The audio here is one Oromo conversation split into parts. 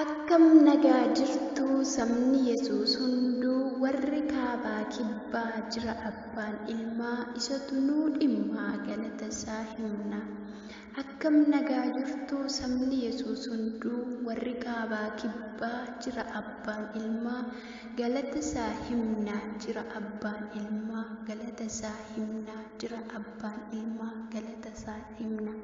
Akkam nagaa jirtu sabni Yesuus hunduu warri kaabaa kibbaa jira abbaan ilmaa isatu nuu dhimmaa galata isaa himna. Akkam nagaa jirtu sabni Yesuus hunduu warri kaabaa kibbaa jira abbaan ilmaa galata isaa himna jira abbaan ilmaa galata isaa himna jira abbaan ilmaa galata isaa himna.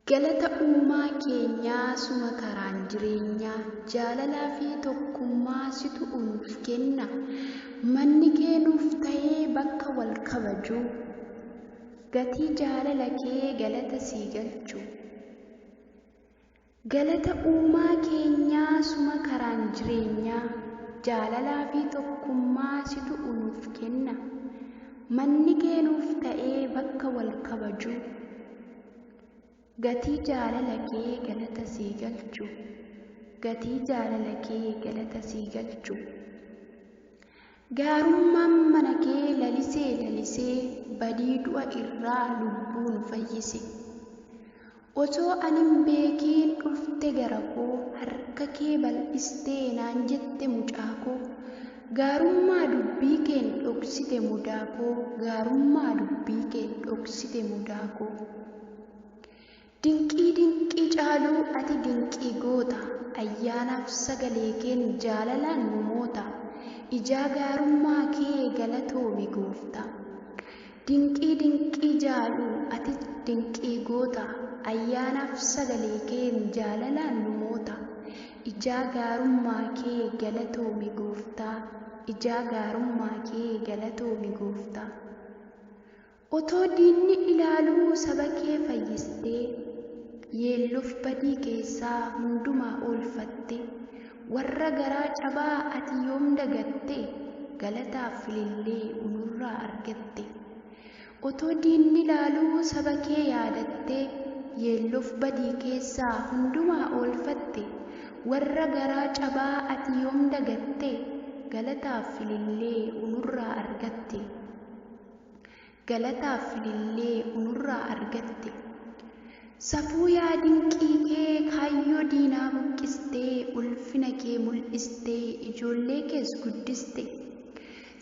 Galata uumaa keenyaa suma karaan jireenyaa jaalalaa fi tokkummaa situ nuuf kenna manni kee nuuf ta'ee bakka wal kabajuu gatii jaalala kee galata sii galchu galata uumaa keenyaa suma karaan jireenyaa jaalalaa fi tokkummaa situ nuuf kenna manni kee nuuf ta'ee bakka wal kabajuu Gatii jaalala kee galata sii galchu Gatii jaalala kee galata sii galchu Gaarummaan mana kee lalisee lalisee Badii du'a irraa lubbuu nu fayyise Otoo ani hin beekiin dhufte gara koo Harka kee bal'istee naan jette mucaa koo Gaarummaa dubbii keen dhoksite mudaa koo Gaarummaa dubbii keen dhoksite mudaa koo Dinqii dinqii caaluu ati dinqii goota Ayyaanaaf sagalee keen jaalalaan nu moota Ijaa gaarummaa kee galatoomi gooftaa. Dinqii dinqii jaalu ati dinqii goota Ayyaanaaf sagalee keen jaalalaan nu moota Ijaa gaarummaa kee galatoomi gooftaa Ijaa gaarummaa kee galatoomi gooftaa Otoo diinni ilaaluu saba kee fayyistee Yeelloof badii keessaa hundumaa oolfattee Warra garaa cabaa ati yoom dagatte galataaf filillee unurraa argatte otoo diinni laaluu saba kee yaadatte yeelloof badii keessaa hundumaa oolfatte warra garaa cabaa ati yoom dagatte galataaf filillee unurraa argatte Galataa fi lillee unurraa argatte. Safuu yaa dinqii kee kaayyoo diinaa buqqistee ulfina kee mul'istee ijoollee kees guddiste.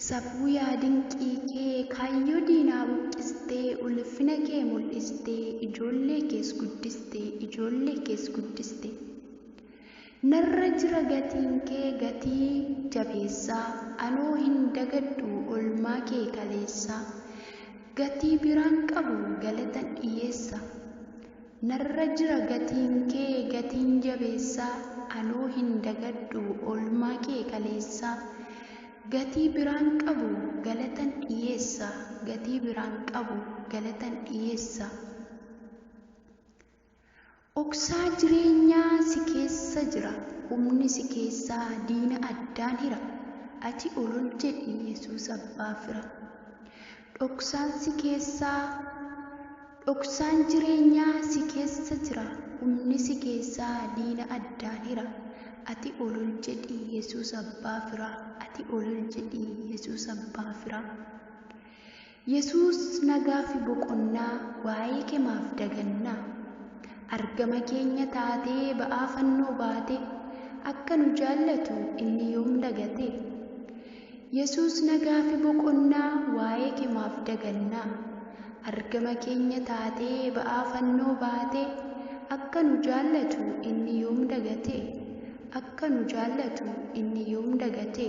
Safuu yaa dinqii kee kaayyoo diinaa buqqistee ulfina kee mul'istee ijoollee kees guddiste ijoollee kees guddiste. Narra jira gatiinkee gatii jabeessaa Anoo hin dagadhu olmaa kee kaleessaa Gatii biraan qabu galatan dhiyeessa Narra jira gatiinkee gatiin jabeessaa Anoo hin dagadhu olmaa kee kaleessaa Gatii biraan qabu galatan dhiyeessa Gatii biraan qabu galatan dhiyeessa. Dhoksaa jireenyaa si keessa jira Humni si keessaa diina addaan hira Ati ol ol jedhi Yesuus abbaa fira Dhoksaan si keessaa Dhoksaan jireenyaa si keessa jira Humni si keessaa diina addaan hira Ati ol ol jedhi Yesuus abbaa fira Ati ol ol jedhi Yesuus abbaa fira Yesuus nagaafi boqonnaa waa'ee ke maaf dagannaa? Argama keenya taatee ba'aa fannoo baate akka nu jaallatu inni yoom dagate? Yesuus nagaafi boqonnaa waa'ee ke maaf dagannaa? Argama keenya taatee ba'aa fannoo baate akka nu jaallatu inni yoom dagate? Akka nu jaallatu inni yoom dagate?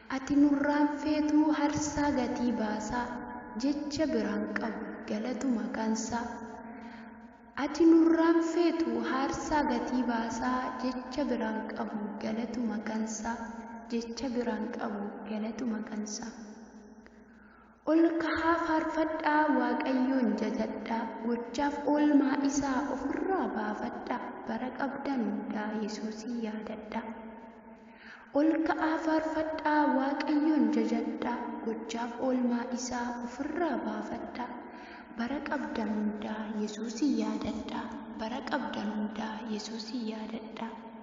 Ati nurraan feetuu harsaa gatii baasaa jecha biraan qabu galatuma kansaa Ati nurraan feetuu haarsaa gatii baasaa jecha biraan qabu galatuma kansaa jecha biraan qabu galatuma kansaa. Ol kahaa faarfadhaa Waaqayyoon jajadhaa Gochaaf oolmaa isaa ofirraa baafadhaa Bara qabdan hundaa Yesuusin yaadadhaa Ol ka'aa faarfadhaa Waaqayyoon jajadhaa Gochaaf oolmaa isaa ofirraa baafadhaa Bara qabdan hundaa Yesuusin yaadadhaa Bara qabdan hundaa Yesuusin yaadadhaa